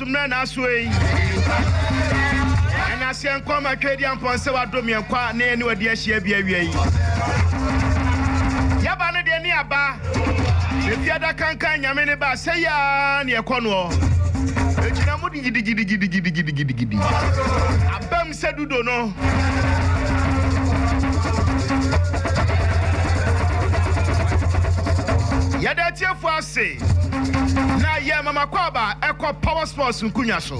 Mmerɛ na aso ei, ɛna aseɛ nkɔm a Twɛdiampɔn nsɛ wadom yɛn kɔ a na yɛne wadi ahyia bi awia yi. Yɛba no deɛ ne aba, bɛfi adakankan Nyame ne ba a sɛi aa ne ɛkɔ noɔ. Bɛgyina mu digidigidigidigidigidigidi. Abam. sɛ dudo no. Yɛda atiefo ase na yɛma makwaaba ɛkɔ Power Sports nkunya so.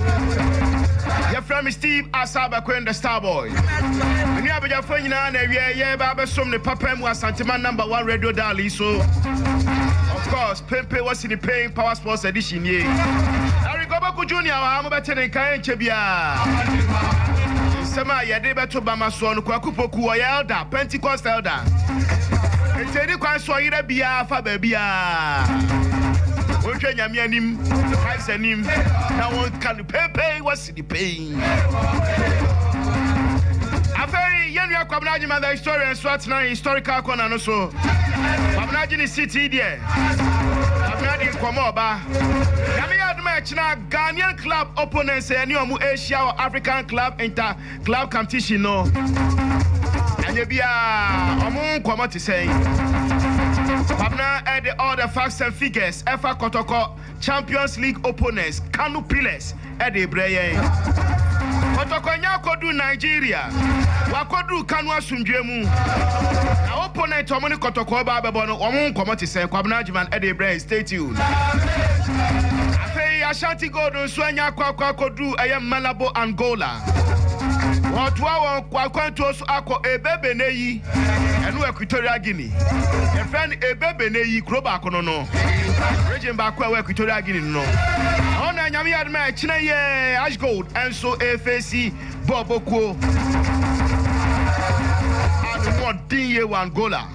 Yɛfrɛ me Steve Asa Abakoen the Starboy. Me nua abadwafoɔ nyinaa na awiɛ yɛba abɛsom ne papa mu Asantema number one radio dial yi so. Of course. Pempe wɔ sini Payne Power Sports Edition nie. Eric Oboku Junior wɔ ha, mobɛte ne nka ɛnkyɛ biara. Nsɛm a yɛde bɛto bama soɔ no, Kwaku Poku ɔyɛ Elder, Pentecost Elder. Nti ɛni kwan sɛ ɔyera biara fa baabiara. Wonhwɛ Nyame anim, Christ anim, na wɔnka no Pempe wɔ Nnipa yi nyɛ. Afei yɛn nua Kwabena Agyemang the historian nso atena historical corner no so. Kwabena agye ne seat yi deɛ. Kwabena de nkɔmmɔ reba. Nyame yɛ adom a ɛkyena Ghanaian club opponents a yɛne wɔn rehyia wɔ African Club Inter Club Competition no. Ɛnyɛ biara wɔn nkɔmmɔ te sɛn. Kwabena de all the facts and figures ɛfa kɔtɔkɔ. Champions League opponents Kano Pillars de rebrɛ yɛn. Kɔtɔkɔ anya akɔduru Nigeria, wɔakɔduru Kano asomdwoeɛ mu. Na opponent a wɔn ne Kɔtɔkɔ reba abɛbɔ no, wɔn ho nkɔmmɔ te sɛn? Kwabena Agyemang de rebrɛ yɛn, stay tuned. Afei Ashanti Gold nso anya akɔ akɔ akɔduru ɛyɛ Malabo, Angola. Wɔretoa wɔn akwantuo so akɔ Ebebe nnɛ yi. Ɛno Equatorial Guinea. Yɛfrɛ no Ebe Bene yi kuro baako no no region baako a ɛwɔ Equatorial Guinea no no. Ɛhɔ na Nyame yɛ adom a ɛkyena yɛ Ash Gold nso ɛfeesi bɔɔbɔ kuo a ne ho ɔden yie wɔ Angola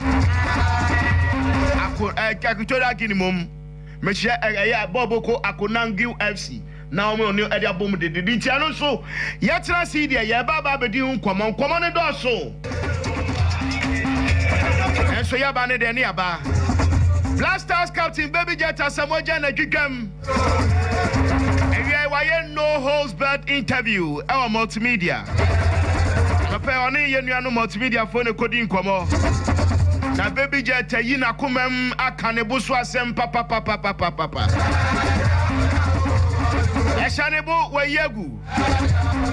Ako, Equatorial Guinea mom. Mekyerɛ ɛyɛ bɔɔbɔ kuo Akonangui FC. na wɔn ne no de abom dede. Ne ntia no nso, yɛtena ase yi deɛ, yɛreba aba abɛdi ho nkɔmmɔ. Nkɔmmɔ no dɔɔso. Nanso yɛaba no deɛ ne yɛaba. Black Stars captain Baby Jet Asamoah Gyan na twitwam. Awiai wayɛ no holds barred interview ɛwɔ multimedia. Mepɛ ɔne yɛn nuanom multimediafoɔ no kɔdi nkɔmmɔ. Na Babyjet ayi n'akomam aka ne bo so asɛm papapapapapapa. Yɛahyɛ ne bo, wayi agu.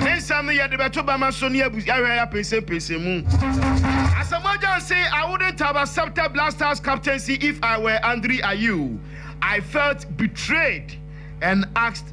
Ne nsɛm no yɛde bɛto bɛma so ne abu ahwɛ apɛnsɛmpɛnsɛm mu. Asamoah Gyan se, I wouldn't have accepted Black Stars captaincy if I were Andre Ayew. I felt betrayed and asked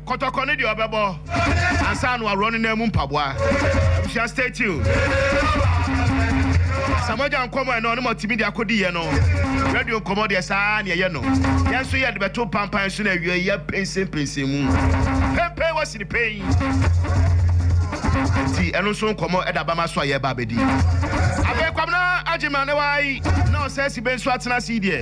Kɔtɔkɔ ne deɛ ɔbɛbɔ ansa na waworɔ ne nan mu mpaboa. Abusua stay tuned. Sɛ mogya nkɔmɔ ɛna ɔne mo atumi de akɔdi yɛ no, radio nkɔmɔ deɛ saa ara na yɛyɛ no. Yɛn nso yɛde bɛto mpampan so na awiei yɛapensenpensen mu. Penpen wɔ sini pen. Nti ɛno nso nkɔmɔ ɛda bama so a yɛreba abɛdi. Afei Kwabena Agyemang ne wai na Ɔsɛe Sibe nso atena ase yi deɛ?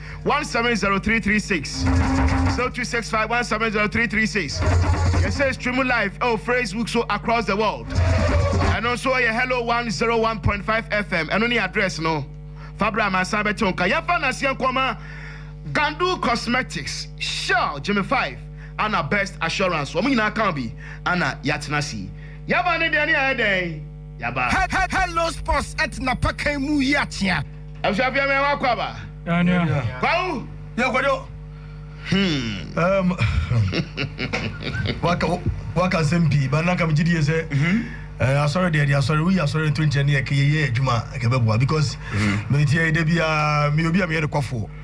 170336 0265170336 yɛsɛ stream live ɛwɔ facebook so across the world ɛno nso ɛyɛ hello 101.5 fm ɛno ne address no fa berɛ a mansan bɛte wo nka yɛmfa naseɛ nkɔma gandu cosmetics shell jimmy 5 ana best assurance wɔn nyinaa ka bi ana yɛatena si yɛba ne deɛ ne ayɛ dɛn yɛba hello sports ɛtena pakan mu yi akyea Abusua pia mɛ wa kwaba. Kwawu yɛ kodo. Hmm. Waka waka sɛm pii ba naka megye die sɛ mhm. asɔre deɛ de asɔre woyi asɔre nto nkyɛn ne yɛkɛyɛyɛ adwuma ɛkɛbɛboa because mhm. metiɛ da biaa meyɛ obi a meyɛ nokwafoɔ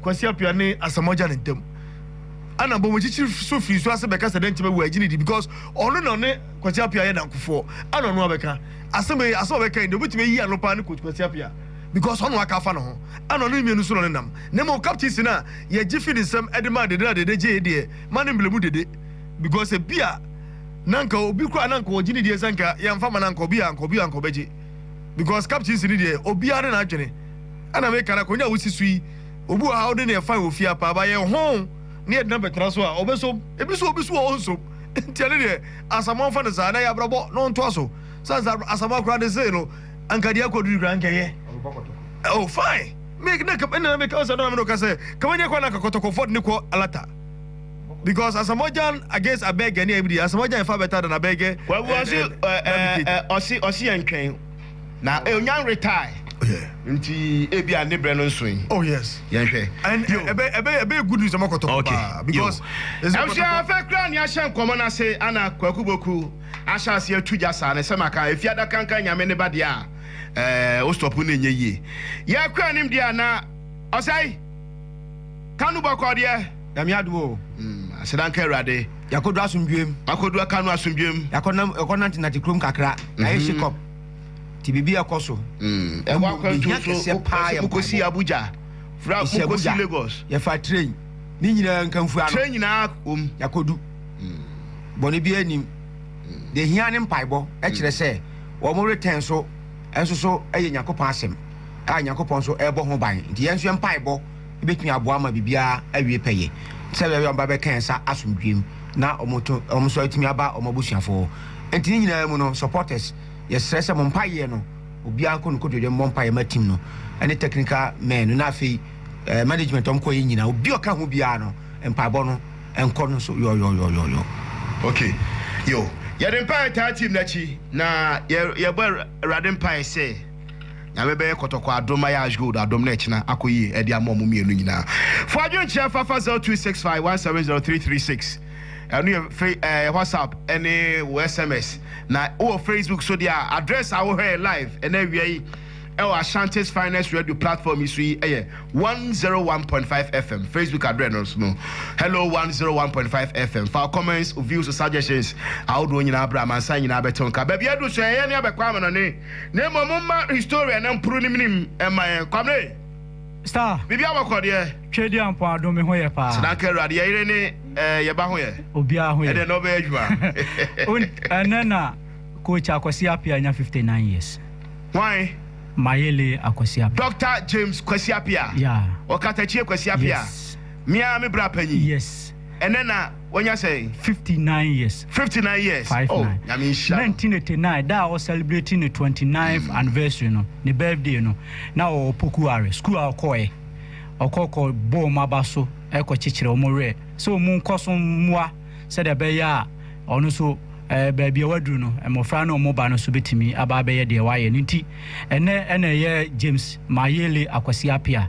Kwasi Appiah ne Asamoah Gyan ntam. Ɛna Bomuchichi so firi so ase bɛka sɛ dɛn nti bɛwɔ agyinidi because ɔno na ɔne Kwasi Appiah yɛ nankofoɔ ɛna ɔno abɛka asɛm ei asɛm a ɔbɛka yi deɛ ɔbɛtumi ayi ano paa ne Coach Kwasi Appiah because ɔno aka afa ne ho ɛna ɔno ne mmienu so na ɔne nam na mmom captaincy no a yɛgye fi ne nsam ɛde maa Dede na Dede gye ei deɛ ma ne mblemu Dede because ebia na anka obi koraa na anka ɔgye ne die sɛ anka yɛnfa ma no anka obi a anka obi a anka ɔbɛgye because captaincy no deɛ obiara ne n'adwene. Ɛna me ka no akonya a wosi so yi obi wɔ ha ɔde ne ɛfan wɔ fie a paa ba yɛ hoo ne yɛde no abɛtena so a ɔbɛsom ebi so obi so a ɔnsom nti ɛne deɛ asamoa mfa no saa na yɛ abrabɔ na ɔntoa so sane sɛ asamoa koraa de see no anka deɛ akɔ duri koraa nkɛyɛ oh fine me na ka ɛna me ka sɛ na me no ka sɛ kama nyɛ kɔ na kakɔtɔkɔfɔ de ne kɔ alata because asamoa gyan against abɛgɛ ne ɛbi deɛ asamoa gyan ɛfa bɛta da na abɛgɛ kwabu ɔsi ɛɛ ɔsi ɔsi yɛn twɛn Na oh nyan retae. Oh yeah. Nti ebia ne brɛ no nsoe. Oh yes. Yɛn hwɛ. And yo. Ebe ebe ebe good news ɔmo kɔtɔ okay. paa because. Ɛnfia afɛ kura ni ahyɛ nkɔmɔ na se ana kwaku boku ahyɛ ase atu gya saa ne sɛ maka efi adaka nka nyame ne ba deɛ a ɛɛ o stop ne nyɛ yie yɛ kura nim deɛ a na ɔsɛe. Kanu bɔkɔɔ deɛ, Nyame adom o. Aseda nka Awurade. Yɛakɔduru asomdwoem. Makɔduru Kanu asomdwoem. Yɛakɔnam, yɛkɔnantenante kurom kakra. Yɛayɛ shake-up. Nti biribi a ɛkɔ so. Yɛwɔ Mmom, akwantuo yɛhia so, kɛseɛ paa yɛ mpaebɔ. mokɔsi Abuja, fra Yɛsi mokɔsi Abuja. Lagos. Yɛfaa train. Ne nyinaa nkamfua no, Train nyinaa wom. yɛakɔdu. Bɔne biara nnim. Deɛ ɛhia ne mpaebɔ. Ɛkyerɛ sɛ wɔretɛn so nso so yɛ Nyankopɔn asɛm. a Nyankopɔn nso rebɔ ho ban. Nti yɛn nso yɛn mpaebɔ bɛtumi aboa ma biribiara awie pɛyɛ. Te sɛ bɛyɛ a wɔba bɛka yɛn nsa asomdwoeɛ mu na wɔto, wɔn nso atumi aba wɔn abusuafoɔ hɔ. Nti ne nyinaa mu no, supporters, yɛsrɛ sɛ mo mpaeɛ no, obiara nkɔ ne nkotodwe mmɔ mpaeɛ ma team no ne technical men no na afei eh, management wɔn kɔ yɛn nyinaa, obi a ɔka ho biara no mpaebɔ no nkɔ no so yɔyɔyɔyɔyɔ. Okay, yo. Yɛde mpaeɛ taa team no akyi na yɛ, yɛbɔ Awurade mpaeɛ sɛ. Nyame bɛyɛ kɔtɔkɔ adom ma yɛ Ashgold adom na ɛkyena akɔ yie ɛde ama ɔmo mmienu nyinaa. Fo adwenkyerɛ fa fa zero two six five one seven zero three three six ɛno yɛ fe ɛɛ whatsapp ɛne wo sms na wowɔ facebook so deɛ a address a wohwɛ yɛ live ɛna awia yi ɛwɔ Ashanti's finest radio platform yi so yi ɛyɛ one zero one point five fm facebook address no so no hello one zero one point five fm fa comments views suggestions ahodoɔ nyinaa bra amansan nyinaa bɛte nka baabi adu so ɛyɛ ne abɛkɔ amanɔne Na mmom momma historia na mporo ne menim mma yɛn. Kwame! Star! Biribi abɔ kɔ deɛ? Twɛdi Ampɔn Adom me ho yɛ paa. Sɛ na anka Awurade yɛ yere ne eh, yɛ ba ho yɛ. Obiara ho yɛ. Ɛdeɛ na ɔbɛyɛ adwuma. Won, ɛnɛ na Coach Akwasi Appiah nya 59 years. Hwan? Mayele Akwasi Appiah. Doctor James Kwasi Appiah? Yeah. Ɔkatakyie Kwasi Appiah? Yes. Me ara me bra panyin? Yes. Ɛnɛ na wanya sɛn? Fifty nine years. Fifty nine years. Five oh, nine. Nyame nhyira. Nineteen eighty nine da a ɔcelebrate ne twenty ninth mm. anniversary no ne birthday no na ɔwɔ Pokuare school a ɔkɔɛ ɔkɔkɔ bɔ wɔn aba so ɛkɔ kyekyere wɔn werɛ sɛ wɔn nkɔ so mmoa sɛdeɛ ɛbɛyɛ a ɔno so ɛɛ baabi a waduru no mmɔfra ne wɔn ba no so betumi aba abɛyɛ deɛ wayɛ ne nti ɛnɛ ɛna ɛyɛ James Mayele Akwasi Apia.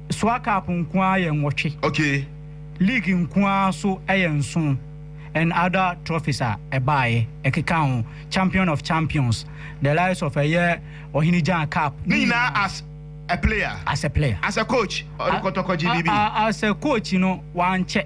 Soa Cup nko ara yɛ nwɔtwe. Okay. League nko ara nso yɛ nson and other trophies a ɛbaeɛ, ɛkeka ho, Champion of Champions, the likes of ɛyɛ Ɔhene Gyan Cup. Ne nyinaa as a player? As a player. As a coach, ɔde kɔtɔkɔgye biribi? As a coach no, wankyɛ.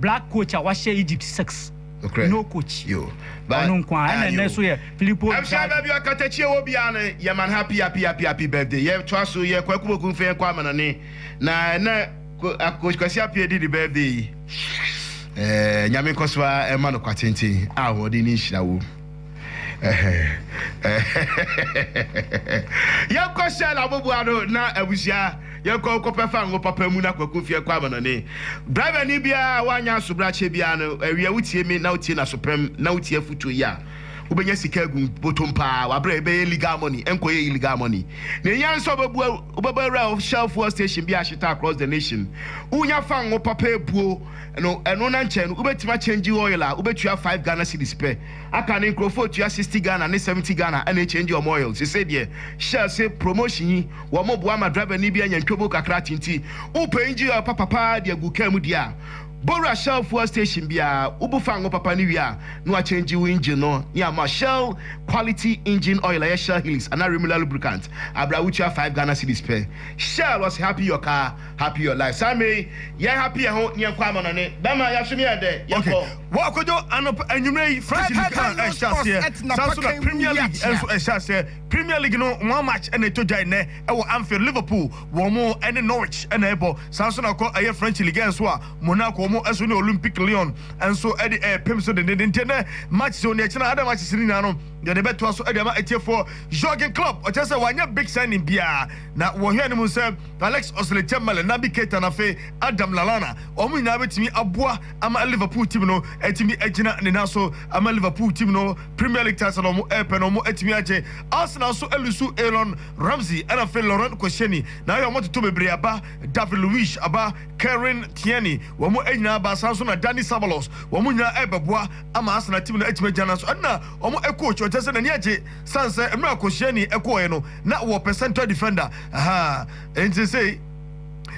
Black coach a wahyɛ Egypt six. Nokorɛ. No coach. Yo. But. Ɔno nko ara. Ɛna Ah, ɛnnɛ yo. nso yɛ Filippo Ɛmhyɛ Inzaghi. baabi a Katakyie wɔ biara no yɛ man happy happy happy happy birthday yɛ toa so yɛ Kwaku Boku mfɛn kɔ amanɔne na ɛnɛ ko a Coach Kwasi Appiah di ne birthday yi ɛɛ Nyame nkɔ so ara ɛma no kwa tenten a ahoɔden ne nhyira wɔ mu. Yɛnkɔ Shell aboboa no na abusua yɛnkɔ nkɔpɛ fango papa mu na kwaku mfeɛ kɔ amanɔne. Driver ni biara a wanyɛ asobrakyɛ biara no awia wotie me na wotie nasopɛm na wotie afutuo yi a wobɛnya sika agu botom paa wabrɛ ɛbɛyɛ legal money ɛnkɔyɛ illegal money na ɛhia nso wobɛbua wobɛbɔ awura Shell fuel station bi ahyeta across the nation wonya fango papa abuo no ɛno na nkyɛ no wobɛtumi akyɛngyi oil a wobɛtua five Ghana cedis pɛ aka no nkurɔfoɔ retua sixty Ghana ne seventy Ghana ɛna ɛkyɛngyi wɔn oil sesei deɛ hyɛ ase promotion yi wɔn boa ma driver ni bi anya ntwobo kakra te nti wopɛ engine oil papa paa de agu car mu deɛ a bowura Shell fuel station biara wobu fa ngo papa no wie a na wakyɛngyi wo engine no ne ama Shell quality engine oil ɛyɛ Shell Helix anaa Remulla lubricant abrɛ a wotua five Ghana cedis pɛ Shell ɔse happy your car Happy your life saa mmerɛ yi yɛ happy yɛn ho na yɛn kɔ amanɔne bɛma yɛasom yɛn dɛ yɛn kɔ. Okay wɔ akɔdwo anɔpa anwummerɛ yi French league no ɛrehyɛ aseɛ saa nso na Premier league nso ɛrehyɛ aseɛ Premier league no wɔn match ɛna ɛtɔ dwa ɛnɛ ɛwɔ Anfield Liverpool wɔn ɛne Norwich ɛna ɛrebɔ saa nso na kɔ ɛyɛ French league nso a Monaco wɔn nso ne Olympique Lyon nso ɛde ɛrepem so dendenden nti ɛnɛ matches wɔ nea ɛkyena ada matches no nyinaa no yɛde bɛtoa so ɛde ama atiefoɔ Jurgen Klopp ɔkyerɛ sɛ wanyɛ big signing biara Na wɔ hɛn mu sɛ Alex Oxlade-Chamberlain, Naby Keita na afei Adam Lallana, hɔn nyina betumi aboa ama Liverpool team no etumi egyina ne nan so ama Liverpool team no Premier League title a wɔn repɛ no wɔn etumi agye. Arsenal nso alusu Aaron Ramsey na afei Laurent Koscielny na ayɛ wɔn atoto bebree aba David Luiz aba Kieran Tierney wɔn nyinaa aba saa nso na Dani Ceballos wɔn nyinaa rebɛboa ama Arsenal team no atumi agyina nan so ɛna wɔn coach ɔkyerɛ sɛ n'ani agye San sɛ mmerɛ Koscielny kɔɔɛ no na ɔwɔ pɛ central defender ahaa nti sesei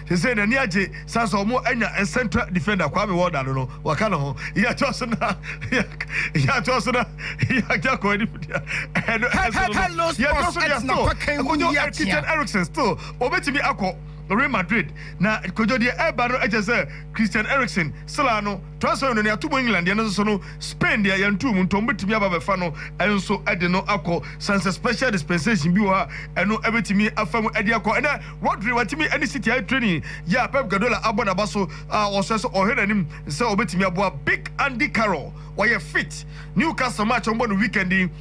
sesei n'ani agye san sɛ ɔmo anya central defender Kwame Walda no no waka ne ho yɛkyɛ so na yɛkyɛ so na yɛagya kɔ ani fidea ɛno ɛso no no yɛkyɛ so deɛ still kodwo Christian Eriksen still ɔbɛtumi akɔ Real Madrid na kodwo deɛ ɛba no ɛkyɛ sɛ Christian Eriksen sila no Twerɛsɛm no, nea yɛato mu England deɛ no nso no, Spain deɛ yɛntoo mu, ntɔn bɛtumi aba abɛfa no nso de no akɔ, sane sɛ Special Dispensation bi wɔ hɔ a ɛno bɛtumi afa mu de akɔ. Ɛnnɛ, Rodri watumi ne City ayɛ training yɛ a Pep Guardiola abɔ n'aba so a ɔsrɛ sɛ ɔhwɛ n'anim sɛ ɔbɛtumi aboa Big Andy Carroll, ɔyɛ fit. Newcastle match a wɔbɔ no weekend yi.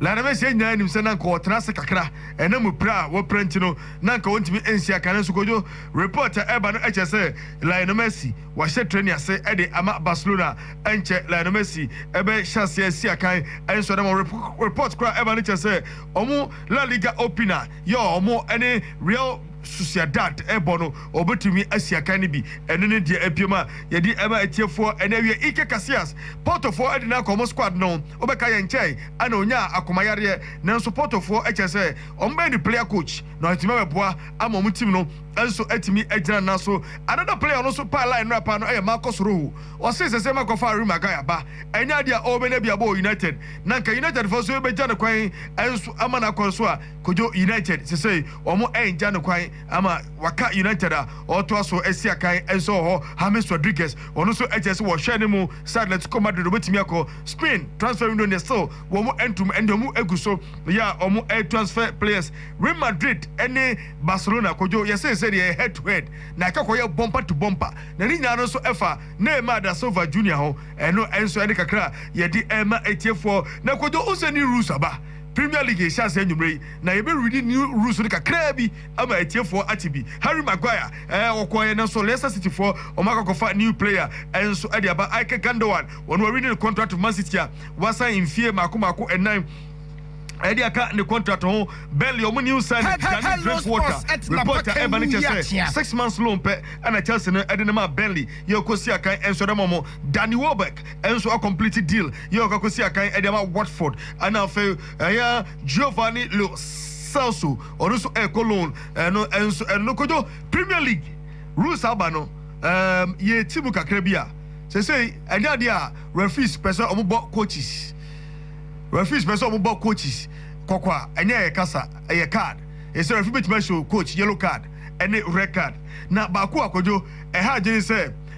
Na na Mesia nyinaa nim sɛ na anka ɔtena ase kakra, ɛna mu pira a wɔpira nti no na anka ɔntumi nhyia kan, nanso Kojo, report a ɛreba no kyerɛ sɛ Lionel Messi wahyɛ training ase de ama Barcelona, ɛnkyɛ Lionel Messi bɛhyɛ aseɛ asi akan, ɛnso ɛnam wɔn report koro a ɛreba no kyerɛ sɛ wɔn La Liga opener yɛ wɔn ne Real. Sociedad rebɔ no, obetumi asi akan no bi. Ɛno ne deɛ apue mu a yɛde rema atiefoɔ ɛnnɛ. Awiɛ, Iker Casillas, Portofoɔ de no akɔ wɔn squad no. Wobɛka yɛn nkyɛe a na ɔnyaa akomayareɛ, nanso Portofoɔ kyerɛ sɛ wɔbɛyɛ no player coach na watumi abɛboa ama wɔn team no nso atumi agyina ne nan so. Another player a ɔno nso paa line no apaa no yɛ Marcos Rojo. Ɔsee sɛ sɛ ɛma kɔfa Harry Maguire aba ɛnyɛ adeɛ a ɔrebɛnya bi abɔ wɔ United, na anka Unitedfoɔ nso bɛgya no kwan nso ama no akɔ so a, kodwo United sesei wɔn ɛngya no kwan ama waka United a ɔɔtoa so asi akan nso wɔhɔ James Rodriguez wɔn nso ɛkyerɛ sɛ wɔhwɛ no mu sɛ Atletico Madrid ɔbɛtumi akɔ Spain transfer window neɛ still wɔn ɛntum ɛnde wɔn ɛgu so yɛ a wɔn ɛɛtransfer players Real Madrid ɛne Barcelona kodwo yɛsee sɛ deɛ head to head na ɛka kɔ yɛ bumper to bumper na ne nyinaa no nso ɛfa Neymar da Silva Junior ho ɛno ɛnso ɛne kakra a yɛde ɛɛma atiefoɔ na kodwo wosɛ new rules aba Premier League yɛ hyɛ ase anwummerɛ yi na yɛbɛ readi new rules no kakraa bi ama atiefoɔ ate bi. Harry Maguire ɛɛ ɔkɔɔeɛ nanso Leicester City foɔ wɔn akɔ akɔ fa new player nso ɛde aba Ilkay Gundogan ɔno warenew ne contract for Man City a wasan mfie mmaako mmaako nnan ɛde aka ne contract ho. Burnley wɔn new signing Danny Drinkwater report a ɛba no kyerɛ sɛ six months loan pɛ ɛna Chelsea no ɛde no maa Burnley yɛ ɔkɔ si akan nso ɛde ama wɔn Danny Welbeck. nso a complete deal yɛ ɔkakɔsi akan ɛde ama Watford ɛna afei ɛyɛ Giovanni Lo Celso ɔno nso ɛkɔ loan ɛno nso ɛno kodwo Premier League rules aba no um, yɛ ti mu kakra bi a sesei ɛnyɛ adeɛ a referees pɛ sɛ ɔmobɔ coaches referees pɛ sɛ ɔmobɔ coaches kɔkɔ a ɛnyɛ yɛ kasa ɛyɛ card ɛsɛ referee bɛtumi ahyɛ coach yellow card ɛne red card na baako a kodwo ɛha adwene sɛ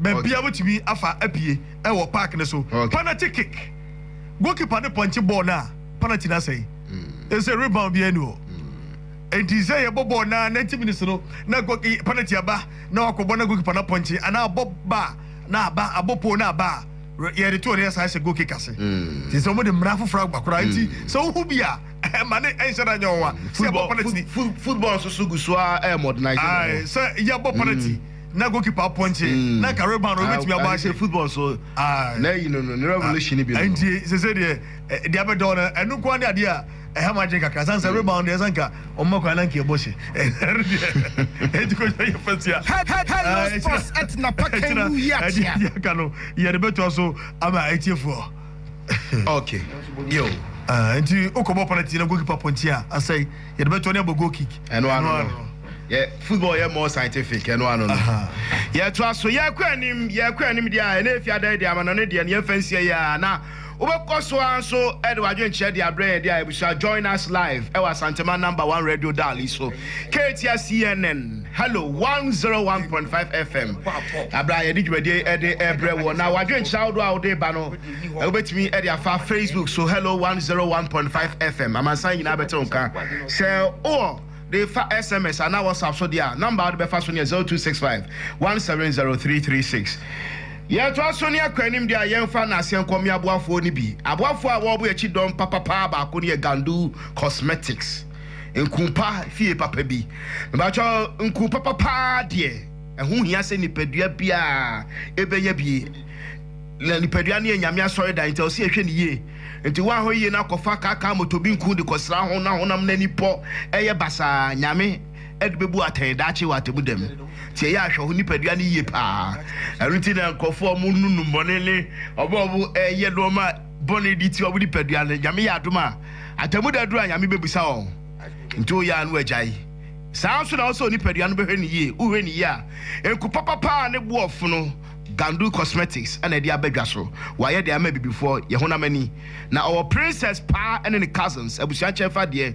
Baabi a wotumi afa apue wɔ park no so. Penalty kick, Goalkeeper no pɔnkye bɔɔl no a penalty no asɛe. Ɛsɛ sɛ rebound biara ni hɔ. Enti sɛ yɛbɔ bɔɔl na 90 minutes no na penalty aba na wakɔbɔ na goalkeeper no apɔnkye anaa abɔ ba na aba abɔ pole na aba a yɛde to no yɛsan hyɛ goal kick ase. Nti sɛ wɔde mmara foforɔ aba koraa nti sɛ wohu bi a ɛma ne ɛnhyɛ da nyɛ wɔn a sɛ yɛbɔ penalty. Football nso so gu so ara modernize ne ho. Sɛ yɛbɔ penalty. na goalkeeper apɔnkye mm. na kare ban no obetumi abɔ ahyɛ football so na yi no no ne revolution bi no nti sese deɛ ɛde eh, abɛdɔw no ɛno nko ade adeɛ a ɛha ma adwene kakra san sɛ mm. rebound deɛ san ka ɔmo kwan na nka ɛbɔ hyɛ ɛno deɛ ɛti ko sɛ yɛ fatia ɛdi aka no yɛde bɛtoa so ama ɛtiefoɔ okay yo ah, nti wokɔbɔ penalty na goalkeeper pɔnkye a asɛe yɛde bɛtoa ne abɔ goal kick ɛno ano no Yɛ football yɛ more scientific ɛno ano no. Yɛtoa so yɛkɔ anim yɛkɔ anim deɛ a ɛna efi adan de ama na ne deɛ no yɛmfa nsia yi a na wobɛkɔ so ara nso ɛde wadwenkyerɛ de abrɛ yɛn de a abusua join us live ɛwɔ Asantema number one radio dial yi so Ketia CNN hello one zero one point five FM abira a yɛde dwumadie ɛde ɛbrɛ wɔ na wadwenkyerɛ ahodoɔ a wode ba no wobɛtumi ɛde afa Facebook so hello one zero one point five FM amansan nyinaa bɛte wo nka sɛ wowɔ de fa SMS anaa WhatsApp so deɛ a, nɔmba a wode bɛfa so no yɛ zero two six five one seven zero three three six. Yɛtoa so ne Akɔ Anim deɛ a, yɛmfa nnaaseɛ nkɔ me aboafoɔ no bi. Aboafoɔ a wɔɔbo yɛakyi dɔm papapaa baako no yɛ Gandu Cosmetics, nku pa fie papa bi. Mebakyɛ nku papa paa deɛ, ɛho hia sɛ nipadua biaa ɛbɛnya bi. Na nipadua no yɛ Nyame asɔredan nti ɛwɔ sɛ yɛhwɛ no yie. Nti woanhwɛ yiye na akɔfa kaakaa motobinku de kɔsra ho na honam no ani pɔ yɛ basaa a, Nyame de bebu wo atɛn daakye wɔ Atemmuda mu. Nti ɛyɛ a hwɛ wo nipadua no yiye paa. Ɛno nti na nkurɔfo a wɔnnu nnubɔne ne wɔn a wɔyɛ nnoɔma bɔne de tia wɔn nipadua no, Nyame yɛ adom a, Atemmuda duru a Nyame bebisa wɔn. Nti woyɛ a na woagyae. Saa ara nso na ɛwɔ sɛ onipadua no bɛhwɛ no yiye. Wohwɛ no yiye a, nku papapa a ne boɔ fono, Gandu Cosmetics na ɛde aba dwa so. Wayɛ de ama Abibifoɔ, yɛn honam ani. Na ɔwɔ Princess paa ne ne cousins, abusua nkyɛnfa deɛ.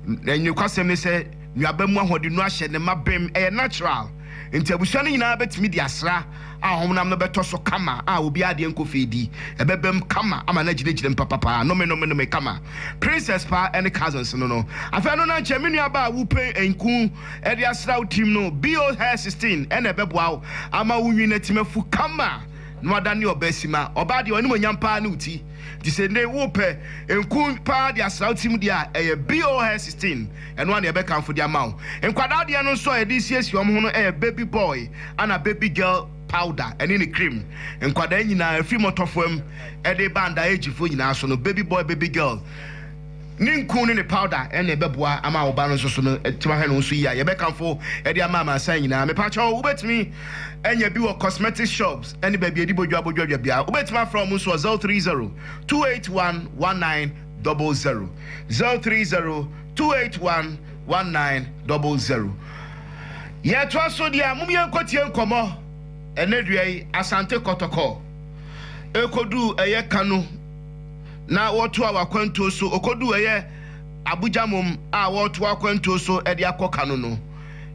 Na nokwasɛm ne sɛ, nnuaba mu ahoɔdennuro ahyɛ ne ma bem, ɛyɛ natural. Nti abusua no nyinaa bɛtumi de asra a honam no bɛtɔ so kama a obiara deɛ nkɔ fie di. Ɛbɛbam kama ama no agyinagyinam papapaa. Nome nome nome kama. Princess paa ne cousins no no. Afei ɛno na nkyɛ me nuabaa wo pɛn nku. de asra wo tirim no, BO hair sixteen na ɛbɛboa wo ama wo nwini atim afu kama na woadane ɔbaa simma. Ɔbaa deɛ w'animuonyam paa ne wo ti, nti sɛ nnɛ wopɛ nku paa de asra wo tirim deɛ a, ɛyɛ BO hair sixteen, ɛno ara na yɛbɛkamfo de ama wo. Nkwadaa deɛ no nso a yɛde resiesie wɔn ho no yɛ baby boy ana baby girl powder ɛne ne cream. Nkwadaa nyinaa, ɛfiri mmɔtɔfoam de reba underagefoɔ nyinaa so no, baby boy, baby girl, Ne nku ne ne powder na ɛbɛboa ama wo ba no nso so no atumi ahwɛ ne ho so yie a yɛbɛkamfo de ama amansan nyinaa. Mepa kyɛw, wobɛtumi anya bi wɔ cosmetics shops ne baabi a yɛde bodwa bɔ dwadwa biara. Wobɛtumi afrɛ wɔn nso wɔ 030 281 1900, 030 281 1900. Yɛtoa so deɛ a, mom yɛnkɔtie nkɔmmɔ ɛnɛ dua yi, Asante Kɔtɔkɔ ɛkɔduu ɛyɛ Kano. na wɔtoaa wɔ akwantuo so, ɔkɔduu ɛyɛ Abuja mmom a wɔretoa akwantuo so de akɔ Kano no,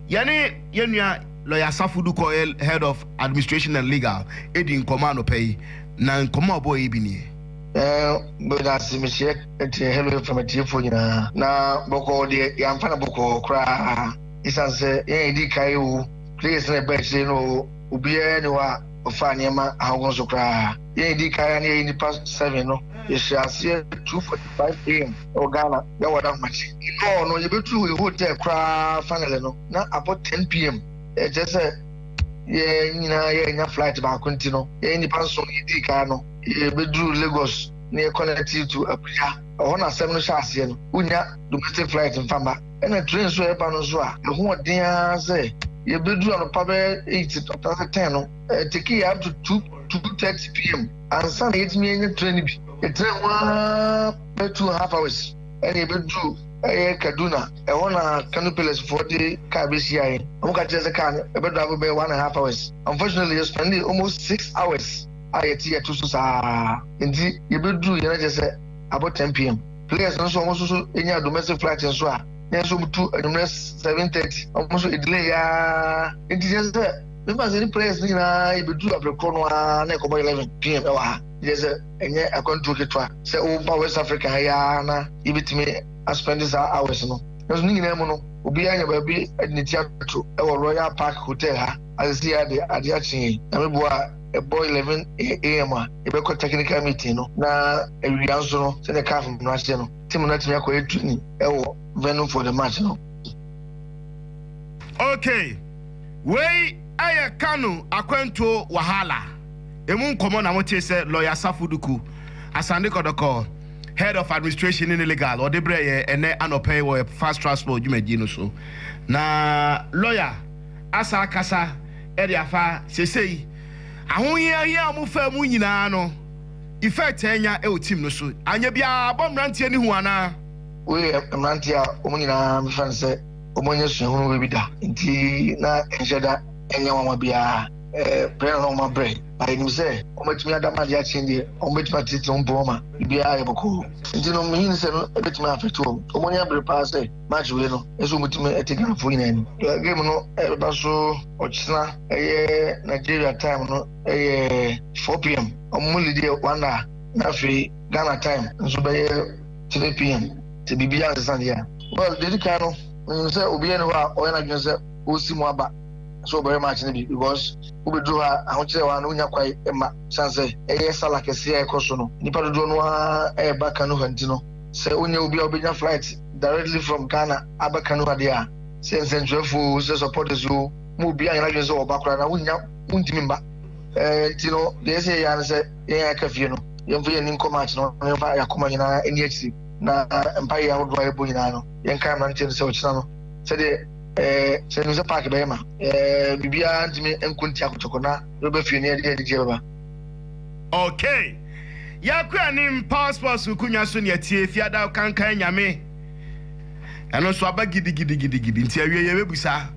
yɛne yɛn nua Lɔya Asafo Du kɔeɛ, Head of Administration and Legal, dii nkɔmmɔ anɔpa yi, na nkɔmmɔ a ɔbɔeɛ bi nie. Meda ase, mekyɛ ɛteɛ Hello FM atiefoɔ nyinaa, na bɔkɔɔ deɛ yɛamfa no bɔkɔɔ koraa, ɛsiane sɛ yɛn a yɛdii kan oo, players no a ɛbaa akyire no oo, obiara nni hɔ a ɔfaa nneɛma ahodoɔ so koraa. Yɛn a yɛdi kan a na yɛyɛ nnipa seven no, yɛhyɛɛ aseɛ two forty five am wɔ Ghana na wɔ Dagomakye. Yɛkɔɔ no, yɛbɛduruu yɛn hotel koraa finally no, na abɔ ten pm. Ɛkyerɛ sɛ yɛn nyinaa yɛannya flight baako nti no, yɛn nnipa nson a yɛdii kan no, yɛbɛduruu Lagos na yɛ connectee to Abuja. Ɛhɔ na asɛm no hyɛ aseɛ no. Wonnya domestic flight mfa mma. Ɛna train nso a ɛba no nso a, ɛho ɔden ara sɛ yɛbɛduru anɔpa bɛyɛ eight anaasɛ ten no. Ɛtekee up to two two thirty pm ansa na yɛtumi anya train no bi. Yɛtena ho ara bɛyɛ two and half hours ɛna yɛbɛduru ɛyɛ Kaduna. Ɛhɔ na Kano Pillars foɔ de car bɛhyia yɛn. Wɔn ka kyerɛ sɛ car no ɛbɛdrive bɛyɛ one and half hours. Unfortunately yɛ spend almost six hours a yɛte yɛto so saa nti yɛbɛduru yɛ na kyerɛ sɛ abɔ ten pm. Players no nso wɔn nso so nyaa domestic flight nso a na yɛn nso wɔtu anwummerɛ seven thirty wɔn nso ɛdelay yɛ ara nti kyerɛ sɛ me ba sɛ ne prayers no nyinaa yɛbɛduru aberɛ korɔ no ara na ɛkɔbɔ 11 pm ɛwɔ ha yɛ sɛ ɛnyɛ akwantuo ketewa sɛ woba west africa ha yɛa na yɛbɛtumi aspɛnde saa hours no nanso ne nyinaa mu no obiara nya baabi de ne ti ato ɛwɔ royal park hotel ha asɛsi yɛ ade ade akye yɛn na meboa a ɛbɔ 11 am a yɛbɛkɔ technical meeting no na awia nso no sɛdeɛ caf no ahyɛ no tim no atumi akɔyɛ training ɛwɔ venue for the match no okay Wei yɛ Kano akwantuo wahala ɛmu nkɔmmɔ na motee sɛ Lawyer Safo Duku Asande Kɔdɔkɔ, Head of Administration ne Legal, ɔde brɛɛ yɛn ɛnnɛ anɔpa yi wɔ yɛn Fast Transport dwumadie no so. Na Lawyer asan akasa de afa seesei ahohiahia a wɔfaa mu nyinaa no effect a anya wɔ team no so. Anyɛ biara abɔ mmeranteɛ no hu anaa? Wei yɛ mmeranteɛ a wɔn nyinaa mefrɛ no sɛ wɔanya suahunu baabi da nti na ɛnhyɛ da nyɛ nwanwa biara berɛ na wɔn abrɛ na yɛnim sɛ wɔbɛtumi ada ma adeɛ akyen deɛ wɔbɛtumi atete wɔn mpɔ ma biribiara yɛ bɔkɔɔ nti no mehin sɛ no ɛbɛtumi afɛte wɔn wɔn anya bere paa sɛ match wei no ɛsɛ wɔbɛtumi ɛte ghanafoɔ nyinaa ni game no ɛbɛba so ɔkyena ɛyɛ nigeria time no ɛyɛ 4pm wɔn mu lideɛ one na afei ghana time nso bɛyɛ three pm sɛ biribi asesa deɛ a well deɛ di kan no menim sɛ obiara ni hɔ a ɔyɛ n'adwene sɛ ɔsi mu aba sɛ ɔbɛyɛ match no bi because wobɛduru hɔ a ahokyerɛ hɔ a na wonya kwae ma sane sɛ ɛyɛ sala kɛseɛ a ɛkɔ so no nnipa dodoɔ no a ɛreba kanoha nti no sɛ wonyɛ obi a wobɛnya flight directly from ghana aba kanoha deɛ a sɛ nsɛntwerɛfoɔ o sɛ supporters o ma obi anyɛ n'adwene sɛ ɔba koraa na wonya wontumi mba eh, nti no deɛ ɛsɛ yɛ ne sɛ yɛn a yɛaka fie no, yɛmfa yɛn ani nkɔ match no na yɛmfa yɛn akoma nyinaa nni akyiri, na mpaeɛ ahodoɔ a yɛbɔ nyinaa no, yɛnkae mmeranteɛ no sɛ ɔkyena no, sɛdeɛ ɛɛ, sɛ yɛnim sɛ park bɛyɛ ma ɛɛ, biribiara ntumi nko ntia kɔtɔkɔ, na yɛbɛba fie na yɛde anigyeɛ bɛba. Okay. Yɛakɔ anim Power Sports nkonwa so nea tie Fiadaw Kankan Nyame. Ɛno nso aba gidigidigidigidi nti awie yɛbɛbusa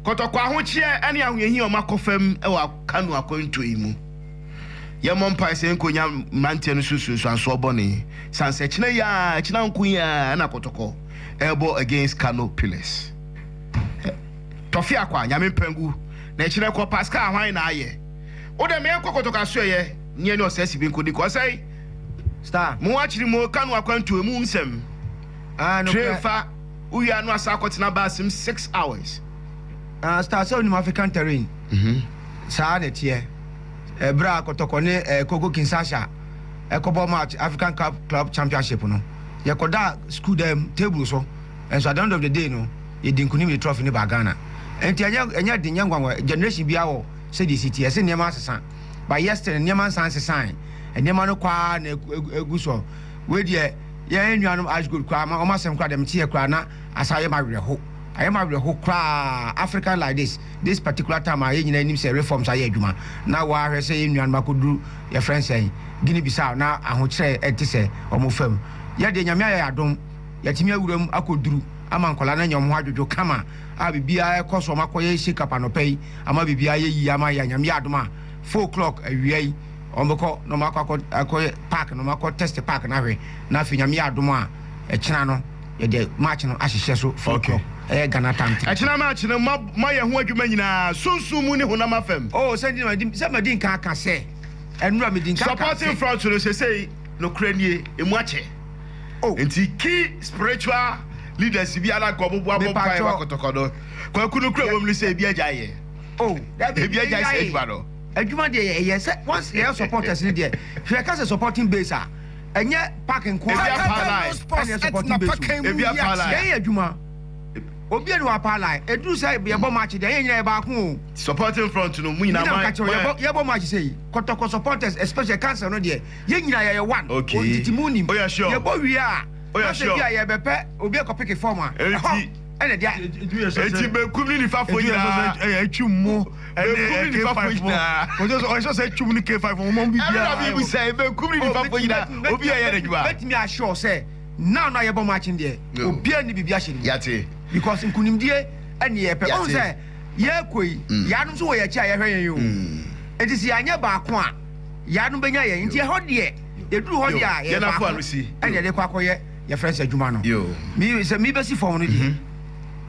kɔtɔkɔ ahokyeɛ ne ahohiahia a wɔakɔ fam wɔ Kano akwantuo yi mu. Yɛmmɔ mpae sɛ yɛnkonya mmeranteɛ no so nsunsuansoɔ bɔne, sane sɛ kyena yi aa kyena nko yi aa na kɔtɔkɔ ɛɛbɔ against Kano pillars. Tɔfe akwa, Nyame mpangu na ɛkyena kɔ Pascal hwan na ayɛ? Wo dɛ meɛnkɔ kɔtɔkɔ asoɛeɛ ne yɛne ɔsɛsi bi nkɔdi kɔ sɛi. Star. Mo akyere mo Kano akwantuo mu nsɛm. Ah, no Train korɛ. fa wo wie a no asan akɔ tena bus mu six hours. Ah, Star sɛ wonim African terrain, saa na ɛteɛ. bere a Kotoko ne Kongo Kinshasa kɔbɔɔ match African Cup Club Championship no, yɛkɔdaa sukuu dan mu table so, nso at the end of the day no, yɛdii nkonim de trophy no baa Ghana. Enti ɛnyɛ ɛnyɛ den, ɛnyɛ nwanwa, generation biara wɔ sɛdeɛ ɛsi teɛ, ɛsɛ nneɛma asesa. But yet still, nneɛma nsan nsesae, nneɛma no kɔ ara na ɛgu so. Wei deɛ, yɛn nuanom Ash Gold koraa, wɔn asɛm koraa deɛ meteɛ koraa na asan ayɛ me awerɛho, ayɛ me awerɛho koraa, African like this. This particular time a yɛn nyinaa nim sɛ reforms ayɛ adwuma na wɔahwɛ sɛ yɛn nuanom akɔduru yɛfrɛ no sɛn, Guinea Bissau na ahokyerɛ ɛnte sɛ wɔn fam. Yɛn deɛ Nyame ayɛ yɛn adom, yɛatumi awura mu akɔduru ama nkwadaa no anya wɔn ho adwodwo kama a biribiara ɛkɔ so, wɔakɔyɛ shake up anɔpa yi ama biribiara ayɛ yie ama yɛn, Nyame yɛ adom a four o'clock awia yi wɔbɛkɔ na wɔakɔ akɔyɛ park no, wɔakɔ test park no ahwɛ na afei Nyame yɛ adom a ɛkyena no. Yɛde match no ahyehyɛ so fɔlkɔ. Ɛyɛ Ghana time three. Ɛkyena match no, mo mo ayɛ ho adwuma nyinaa, sunsum mu ne honam afam. Oh, sɛ nti na madi sɛ madi nka aka sɛ, ɛnora medi nka aka sɛ. Supporting front no, sesei, nokorɛ nie, emu akyɛ. Oh. Nti key spiritual leaders bi ara nka ɔmo boa mo mpaeɛ ma kɔtɔkɔ no. Kwaku, nokorɛ a ɛwɔ mu ne sɛ, ebi agyae yɛ. Oh, dabi, ebi agyae saa adwuma no. Adwuma deɛ yɛ yɛ sɛ once yɛ yɛ supporters no deɛ, hwɛ, yɛka sɛ supporting base a. Ɛnyɛ park nko ara na ɛwɔ Paalae ɛna ɛsɔpɔte Besu. Ebi a Paalae. Yɛn yɛ adwuma. Obi a ni wɔ Paalae. Eduru sɛ yɛbɔ match deɛ yɛn nyinaa yɛ baako o. Supporting front no mo nyinaa mo ayɛ. Nti na meka kyerɛ wo yɛbɔ yɛbɔ match sɛ yi. Kɔtɔkɔ supporters especially council no deɛ yɛn nyinaa yɛyɛ one. Okay. Wɔn tete mu nim. Oyɛ sure. Yɛbɔ wie a. Oyɛ sure. N'asɛ bi a yɛbɛpɛ obi akɔ pick form a. Ɛhɔ ɛna ɛde a. Edu yɛ sɛ sɛ. Eti benkum ne nifa fo nyinaa. Edu yɛ sɛ sɛ ɛtwi mu. Benkum ne nifa fo nyinaa. Ɔsɛ sɛ ɔsɛ sɛ twum ne K five wɔn wɔn bi biara. Ɛna mi bu sɛ benkum ne nifa fo nyinaa obi a ɛyɛ ne dwuma. Bɛtumi ahyɛ ɔsɛ naa no a yɛbɔ makyin deɛ obi a ni bibi ahyɛ ne mu. Yate. Because nkunimdie ɛni yɛ pɛ. Ɔn sɛ yɛ kɔ yi yaanom nso wɔ yɛ akyi a yɛhwɛ yɛn yoo. Eti sɛ yanyɛ baako a yaanom bɛ nya yɛn nti ɛhɔ deɛ yɛ duru hɔ deɛ a yɛ baako ɛna yɛde kɔ akɔ yɛ yɛ fɛnsɛ adwuma no. Yoo. Mi sɛ mi bɛ si fɔm no deɛ.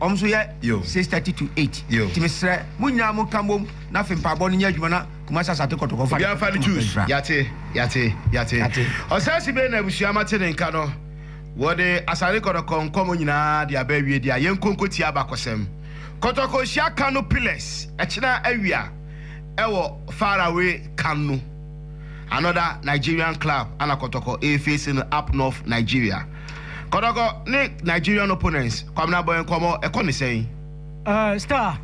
Wɔn nso yɛ six thirty to eight. Nti me srɛ mo nyinaa mo nka mbom na afei mpaabɔ no nyɛ adwuma na Kumasi Asate Kɔtɔkɔ nfa ne Obiara nfa ne Kumasi choose. nfra. Yate, yate, yate. Yate. Ɔsɛɛse bɛn na abusua mate ne nka no? Wɔde Asate Kɔtɔkɔ nkɔmɔ nyinaa de aba awie deɛ a, yɛnkɔ nkɔtie abakɔsɛm. Kɔtɔkɔ hyia Kano pillars ɛkyena awia ɛwɔ far away Kano. Another Nigerian club ana Kɔtɔkɔ ɛɛfeesi no up north Nigeria. Kɔtɔkɔ ne Nigerian opponents Kwabena bɔ nkɔmmɔ, ɛkɔ ne sɛn? Uh, star,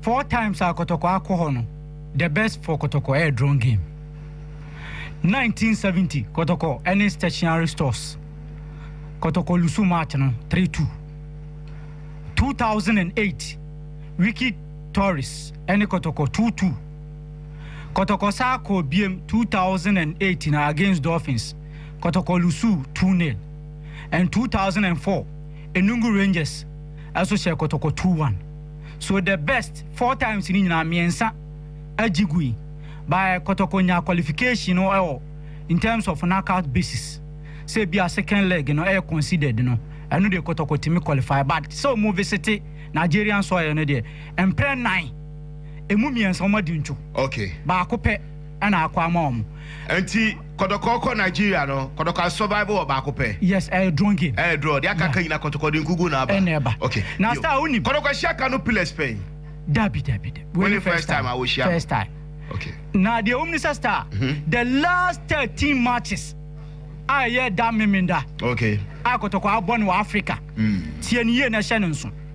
four times a Kɔtɔkɔ akɔ hɔ no, the best for Kɔtɔkɔ ɛyɛ drawn game. 1970, Kɔtɔkɔ ɛne stationary stores. Kɔtɔkɔ lusu match no 3-2. 2008, Wiki Tourist ɛne Kɔtɔkɔ 2-2. Kɔtɔkɔ saa kɔɔ biem 2008 na against Dolphins. Kɔtɔkɔ Lusuw two nil and two thousand and four Enugu Rangers nso hyɛɛ Kɔtɔkɔ two one so the best four times no nyinaa mmiɛnsa agye gui but Kɔtɔkɔ nyaa qualification no wɔ in terms of knockout basis sɛ ebia second leg no yɛ considered no ɛno deɛ Kɔtɔkɔ tumi qualify but sɛ wɔn visite Nigerian soil no deɛ mprɛ nnan ɛmu mmiɛnsa wɔn adi ntwo okay baako pɛ na akɔ ama wɔn. Nti kɔtɔkɔ kɔ Nigeria no kɔtɔkɔ a survive wɔ baako pɛ. Yes ɛyɛ draw game. Ɛyɛ draw deɛ aka aka nyina kɔtɔkɔ de nkugu na aba. Ɛna ɛba. Okay. Na star wo nim. Kɔtɔkɔ hyia ka no pillars pɛn. Dabi dabi dabi wei ne first time a wɔ hyia no. First time. Okay. Na deɛ wɔm ne sɛ star the last thirteen matches a ɛyɛ da memenda. Okay. A kɔtɔkɔ abɔ no wɔ Africa. Tie ne yie na hyɛ no nso.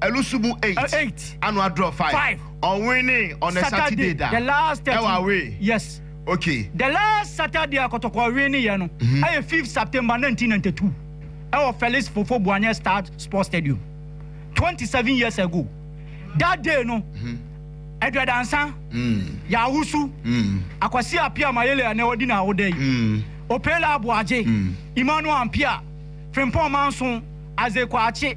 Ɛno so mu eight ano adorɔ five ɔnwee ne on a Saturday da ɛwɔ awee yes okay the last Saturday a kɔtɔkɔ wee ne yɛ no ɛyɛ fifth September nineteen ninety two ɛwɔ Felix Fofo Boanyɛ Star Sports Stadium twenty seven years ago that day no Aduadansa Yawusu Akwasi Appiah Mayele ɛnɛ ɔdi na awoda yi Opela Aboagye Emmanuel Ampia Frimpong Manson Isaac Kwakye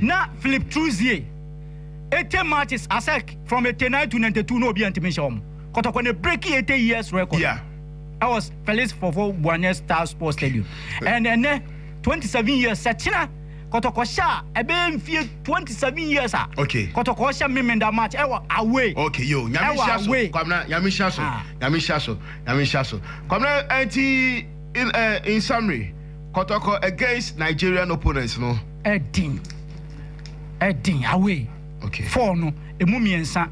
Na Philippe Trouzier, ete matches asec from ete nine to ninety two na obi a ntumi nhyɛ wɔn kɔtɔkɔ na ebreki ete years record no ɛwɔ Felix Fofo Buane Star Sports Stadium and ɛnɛ twenty seven years sɛ kyena kɔtɔkɔ hyɛ a ɛbɛyɛ mfie twenty seven years a kɔtɔkɔ hyɛ Memenda match ɛwɔ away okay yo nyame hyia so kwamina nyame hyia so nyame hyia so nyame hyia so kwamina ɛnti in summary kɔtɔkɔ against Nigerian opponents no. Ɛden, ɛden, away, okay. Four no, emu mmiɛnsa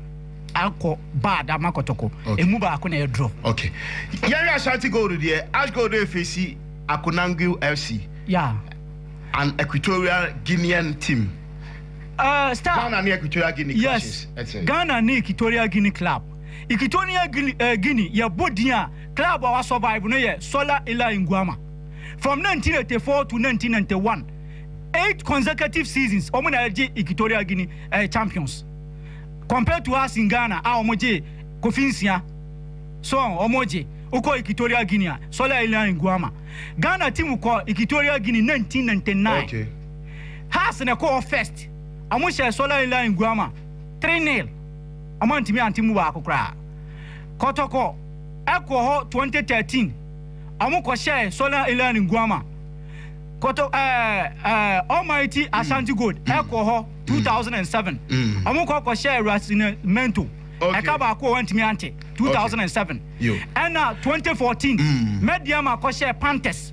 akɔ bad ama kɔtɔkɔ, okay. Emu baako na ɛyɛ draw. Okay. Yɛhwɛ Ashanti Gold deɛ, Ash Gold efesi Akonangu FC. Yeah. An Equatorial Guinean team. Uh, star. Ghana ne Equatorial Guinea clashes. Yes. Ghana ne Equatorial Guinea club. Equatorial Guinea, uh, Guinea yɛ bɔ din a club a wa survive no yɛ Sola Ila Nguama. from nineteen eighty four to nineteen ninety one eight consecutive seasons wɔn na ɛgye Equatorial Guinea ɛyɛ champions compared to us in Ghana a wɔn gye kofi nsia so wɔn gye wokɔ Equatorial Guinea a Sɔlɛ Ilian Nguama Ghana team kɔ Equatorial Guinea nineteen ninety nine Haas na ɛkɔ hɔ first wɔn hyɛ Sɔlɛ Ilian Nguama three nil wɔn antumi ante mu baako koraa kɔtɔkɔ ɛkɔ hɔ twenty thirteen. Ɔmo kɔ hyɛɛ Solar Inland Nguama Koto ɛɛ ɛɛ Almighty Ashanti Gold ɛkɔ hɔ two thousand and seven. Ɔmo kɔ kɔ hyɛɛ Rasina Mento ɛka baako wɔ hɔ ntumi ante two thousand and seven. Ɛna twenty fourteen Mɛdiama kɔ hyɛɛ Panthers.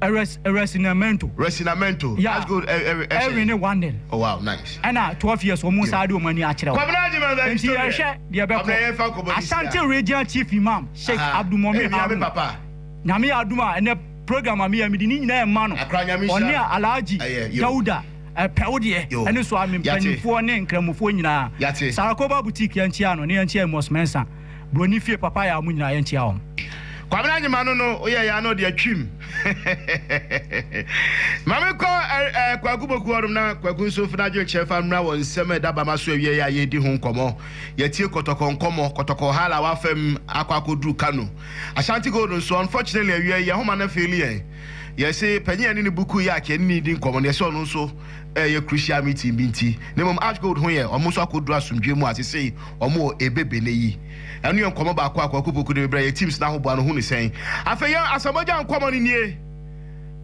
Resinamento. Resinamento. Yeah. That's good. Erwin ne Wandel. Oh wow, nice. Ɛna 12 years wɔn nsa de wɔn ani akyerɛ wɔn. Kwabena Jimmy Mary Nti yɛhwɛ deɛ bɛkɔ. Ashanti Regional Chief Imam Sheikh Abdul Mumin Harun. Nyame yɛ adum a ɛnɛ program a meyɛ mede ne nyinaa ɛma no. Ɔne a Alhaji Dauda ɛpɛw deɛ ɛne so a me mpanimfoɔ ne nkramofoɔ nyinaa. Sarakoba Boutique yɛnkyia no ne yɛnkyia Amos Mensah. Broni fie papa yɛ a ɔmo nyinaa yɛ nkyia wɔn. Kwabena Anyima no no woyɛ yɛ a na ɔde atwim ma me kɔ ɛɛ Kwaku Boku hɔnom na Kwaku nso mfa n'adwenkyerɛ mfa mmra wɔ nsɛm a ɛda Bama so awiei a yɛredi ho nkɔmɔ. Yɛatie Kɔtɔkɔ nkɔmɔ, Kɔtɔkɔ hala a wafa mu akɔ akɔduru Kano. Ashanti Gold nso unfortunately awiei yɛn homa no afeeli yɛn. Yɛse panyin a ɛne ne Buku yɛ akyɛ ne ne redi nkɔmɔ no yɛse ɔno nso ɛɛyɛ crucial meeting bi nti na mmom Ash Gold ho yɛ ɔmo nso akɔduru asomdwoe mu a sesei Ɔmo wɔ ebe bene yi. Ɛno yɛ nkɔmɔ baako a Kwaku Poku de bebrɛ yɛ teams no ahoboa no ho ne sɛn? Afei yɛn Asamoah-Gyan nkɔmɔ no nie.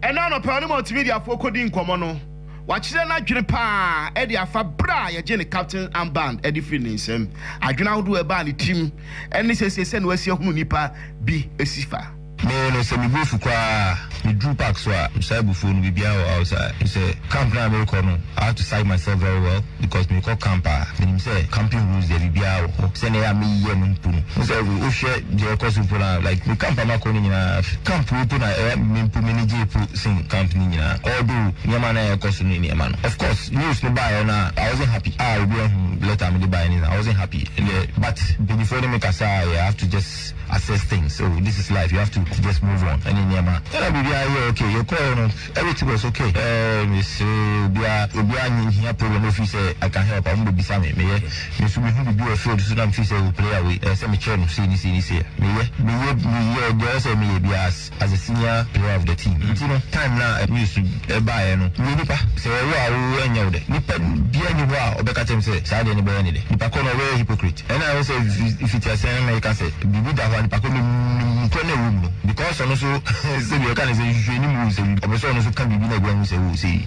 Ɛnɛ anɔpa ɔne Multimedia foɔ kɔdi nkɔmɔ no. Wakyerɛ n'adwene paa de afa berɛ a yɛgyee ne Captain armband de firii ne nsam, adwene ahodoɔ a ɛbaa ne tirim ne sɛsei sɛdeɛ wasi ahunu nnipa bi si fa. Me no sɛ megu asu koraa a, meduru park so a, mesae bu phone no, biribiara wɔ house a, mesɛ camp no a merekɔ no, I have to psych myself very well because merekɔ camp a, menim sɛ camping rules deɛ biribiara wɔ hɔ, sɛdeɛ ɛyɛ a meyɛ no mpo no, wohu sɛ wohwɛ deɛ ɛrekɔ so mpo no a, like me camp a makɔ no nyinaa, camp wei mpo na ɛyɛ a me mpo m'ani gyee mpo sen camp no nyinaa, although nneɛma a na ɛrekɔ so ne nneɛma no, of course news no baeɛ no a, I wasn't happy a obi ahunu letter a mede baeɛ no nyinaa, I wasn't happy, ɛndeɛ but mpaninfoɔ ne me kasaeɛ a, I have to just. assess things oh this is life you have to just move on ɛne nneɛma ɛna biribiara yɛ okay yɛkɔɛ no everything was okay ɛɛ mesere obiara obiara nye hia problem no firi sɛ I can help a wɔn bɛbisa me meyɛ me nso mehu biribi wɔ field so na mefiri sɛ wɔ player wei ɛɛ sɛ mekyerɛ no sei ne sei ne sei meyɛ meyɛ meyɛ deɛ ɛwɔ sɛ meyɛ biara. as a senior player of the team nti no time no a news baeɛ no meyɛ nipa sɛ wɔwo a wowo ɛnyɛ wo dɛ nipa biara nni hɔ a ɔbɛka kyerɛ me sɛ saa deɛ no bɛyɛ ne dɛ nipa korɔ no ɔbɛyɛ hypocrite ɛna ɛwɔ sɛ mfitiaseɛ no meka sɛ biribi da hɔ a nipa korɔ no menim nokorɛ no a ɛwɔ mu no because ɔno nso sɛdeɛ yɛka no sɛ nhwehwɛ anim o sɛ ɔpɛ sɛ ɔno nso ka biribi na ɛbɛhu sɛ o sei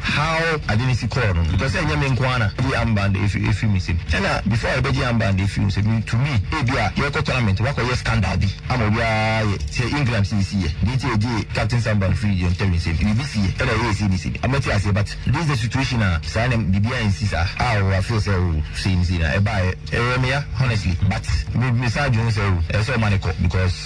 How ade no si kɔɔ no, mepɛ sɛ ɛnyɛ me nko ara na ɛyi armband no efi efi me nsam. Ɛna before a yɛbɛgye armband no efi wo nsam no, to me, ebia yɛrekɔ tournament, woakɔyɛ scandal bi ama obiara ayɛ te sɛ England sɛ yɛsi yɛ, deɛ nti a yɛgyee captain's armband firi yɛn ntɛm nsam no, biribi si yɛ ɛna ɛyɛ yɛ sei ne sei ne. Mate aseɛ but this the situation a saa na biribi ansi saa a wa feel sɛ oh sei ne sei na ɛbaeɛ. Ɛyɛɛ me ya honestly but me mesan dwen ho sɛ oh ɛsɛ sɛ ɔma no kɔ because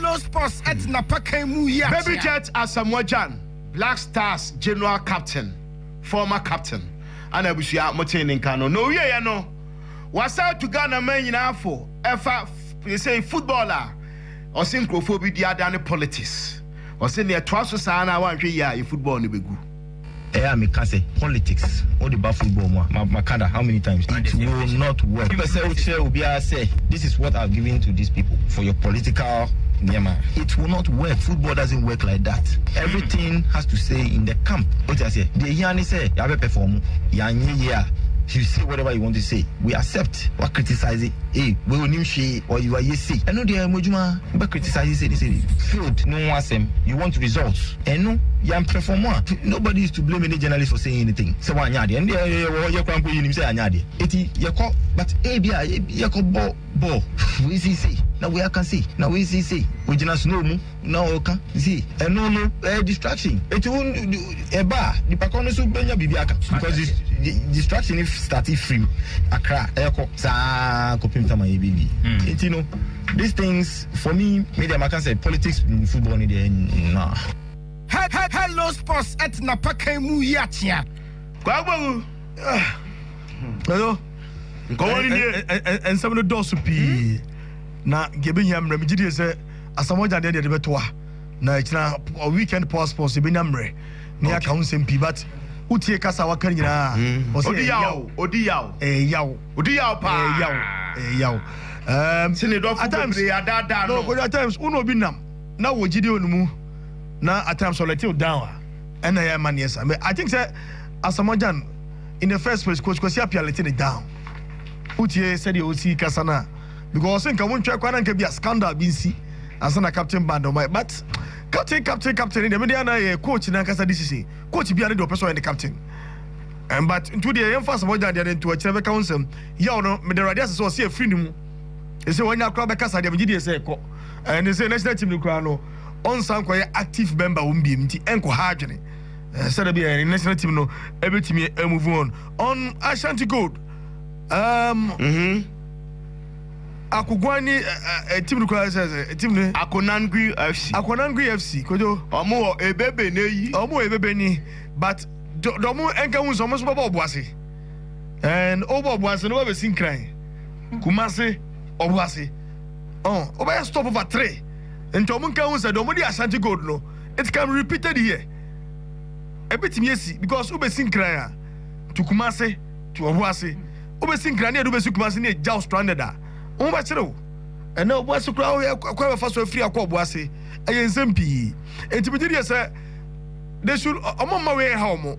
Hello Sports ɛte n'apakan mu yi akyea. Baby Jet Asamoah Gyan, Black Stars General Captain, former captain, ɛna abusua mo tee ne nka no. Na owieɛ no, wasan atu Ghana man nyinaa fo ɛfa sɛsɛi football a ɔse nkurɔfoɔ bi di adane politics. Ɔse neɛ ɛtoa so saa no a woanhwɛ yie a yɛ football no bɛgu. Ɛyɛ a meka sɛ politics wode ba football mu a ma maka da how many times it will not work wopɛ sɛ wokyerɛ obiara sɛ this is what I've given to these people for your political nneɛma it will not work football doesn't work like that everything has to say in the camp wote aseɛ deɛ hia ne sɛ yɛabɛ perform yɛanyɛ yie a you say whatever you want to say we accept wa criticize it hey wei onim hwee or you are yɛ sei ɛno deɛ mo adwuma wobɛ criticize sei ne sei failed no ho asɛm you want results Ɛno yɛ mprɛfɔmɔ a nobody is to blame any journalist for saying anything sɛ wanyɛ adeɛ ɛno deɛ yɛwɔ hɔ yɛ koraa mpo yɛnim sɛ yɛanyɛ adeɛ eti yɛkɔ but ebi a yɛkɔ bɔ bɔɔl wei sei sei na wei aka sei na wei sei sei ogyina snow mu na ɔka sei ɛno no ɛyɛ distraction eti wo ɛba a nipa kɔ no so bɛnya biribi aka because distraction if start firim akra ɛkɔ saa kɔpem tama yɛ biribi eti no these things For me, me deɛ maka sɛ politics ne football no deɛ no. Hello sports at napakan mu yi akyea. Kwagbamu ah ɛyɔ nkɔmɔ ni nie. Nsɛm no dɔɔso pii na deɛ ɛbɛhia mmerɛ megye die sɛ asamɔgya deɛ deɛ de bɛto a na ɛkyina weekend power sports ɛbɛnya mmerɛ ne aka ho nsɛm pii but wotie kasa a waka nyinaa ɔsɛ ɛyaw ɔdi yaw ɛyaw ɔdi yaw paa ɛyaw ɛyaw Um, si ne dɔfo bebree adaadaa no. No, at times, wo na obi nam na wɔ gyidi wɔ ne mu, na at times ɔ let you down a, ɛna ɛyɛ ma neɛ sa. I think sɛ Asamoah Gyan, in the first place, Coach Kwasi Appiah let ne down. Wotie sɛdeɛ ɔsi kasa no a, because ɔse nka wontwɛ kwa na nka bi a scandal bi nsi ansa na captain band ɔma, but captain captain captain ne deɛ mede ana yɛ coach no ankasa decision. Coach bia ne deɛ ɔpɛ sɛ ɔyɛ ne captain. Um, but nti wodeɛ yɛmfa Asamoah Gyan deɛ no nto akyirɛ bɛka wo nsɛm. Yaw no, meda Awurade ase sɛ ɔse afiri no mu. Ɛsɛ wanya koraa bɛkasa deɛ, megye die sɛ ɛkɔ. Ɛne sɛ national team no koraa no, ɔnsan kɔyɛ active member wɔn biem, nti ɛnkɔ ha adwene. Sɛ da bi a yɛne national team no ɛbɛtumi move on. On Ashanti Gold, um, Akoguan ni uh, uh, team no koraa sɛ sɛ team no. Akonangui FC. Akonangui FC, kojo. Ɔmo wɔ ebebe n'eyi. Ɔmo wɔ ebebe ni, but dɔmo ɛnka hu sɛ ɔmo nso bɛbɔ ɔbo ase. and wobɔ ɔboase no wabɛsi nkran kumase ɔboase oh wobɛyɛ stop over three nti ɔmo nka ho sɛ deɛ ɔmo de ashanti gold no it can be repeated here ɛbɛtumi asi because wobɛsi nkran a to kumase to ɔboase wobɛsi nkran ne ɛde wobɛsi kumase ne ɛgyaw stranded a wo bɛkyere wo ɛnɛ ɔboase koraa woyɛ kɔ bɛfa so afiri akɔ ɔboase ɛyɛ nsɛm pii nti megye deɛ sɛ they should ɔmo mma wei ɛha ɔmo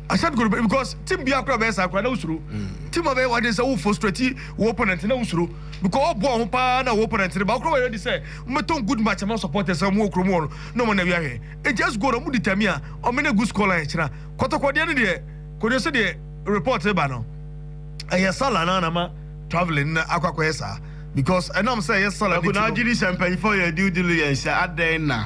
Ahyɛm kuro bɛ because team biara kura bɛyɛ saa kura na wosuro team a bɛyɛ waden sɛ wo frustrate wo opponent na wosuro because ɔbɔ ɔho paa na wo opponent no ba wokura wɔyɛ ready sɛ mbɛtɔn good match ma supporters sɛ ɔmo wɔ kuro mu hɔ no na ɔmo na wi ahwɛ nti as goal ɔmo determine a ɔmo ne good score line kyena kɔtɔkɔ deɛ no deɛ kɔdeɛ sɛ deɛ report ba no ɛyɛ sala na na ma traveling na akɔ akɔyɛ saa because ɛnam sɛ ɛyɛ sala ne ti no. Ɛkò na agye ni sɛ mpanyinfoɔ yɛ due diligence adɛn na.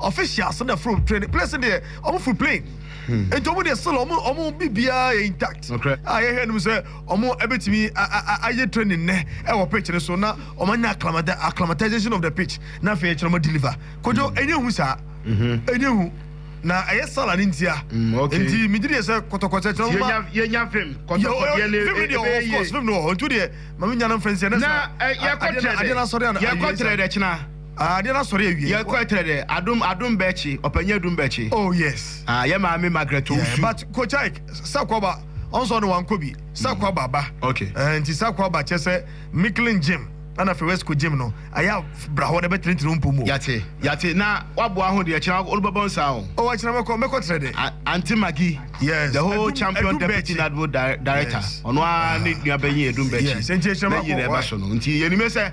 Officials na from training place deɛ ɔmo furu plane nti ɔmo deɛ still ɔmo ɔmo bibiara yɛ intact a yɛhwɛ anim sɛ ɔmo ɛbɛtumi ayɛ training nɛ ɛwɔ pitch no so na ɔmo anya acclimatization of the pitch na afei ɛkyerɛ ɔmo deliver kodwo ɛnyɛ hu saa ɛnyɛ hu na ɛyɛ sala ne ntia nti megye deɛ sɛ kɔtɔkɔtɔ kyerɛ ɔmo ma yɛnya fim kɔtɔkɔtɔ ne fim deɛ of course fim no wɔ hɔ nti deɛ ma menya no mfɛnseɛ na yɛkɔkyerɛ dɛ yɛkɔkyerɛ dɛ kyena Ah deɛ na sɔre awie. Yɛ kɔ ɛtrɛ dɛ adom adom bɛkye ɔpanyin adum bɛkye. Oh yes. Ah yɛ maame Margaret Owusu. Yeah but coach Ike sakwa ba ɔnsɛ ɔno wankɔ bi sakwa ba ba okay eh nti sakwa ba kyɛ sɛ Micklin gym ɛna fɛ wɛsco gym no ayɛ a bra hɔ na bɛ tene tene ompo mu o. Yate yate na waboa ho deɛ kyena ɔno bɛbɔ nsa o. Oh akyena mɛkɔ mɛkɔ trɛ dɛ. A aunty Maggie yes the whole adum champion adum deputy bɛkye nadbo di director yes ɔno ara ne ah nua bɛnyin adum bɛkye yes nti akyena mɛkɔ bɛnyin na ɛba why. so no nti yɛ nimɛ sɛ.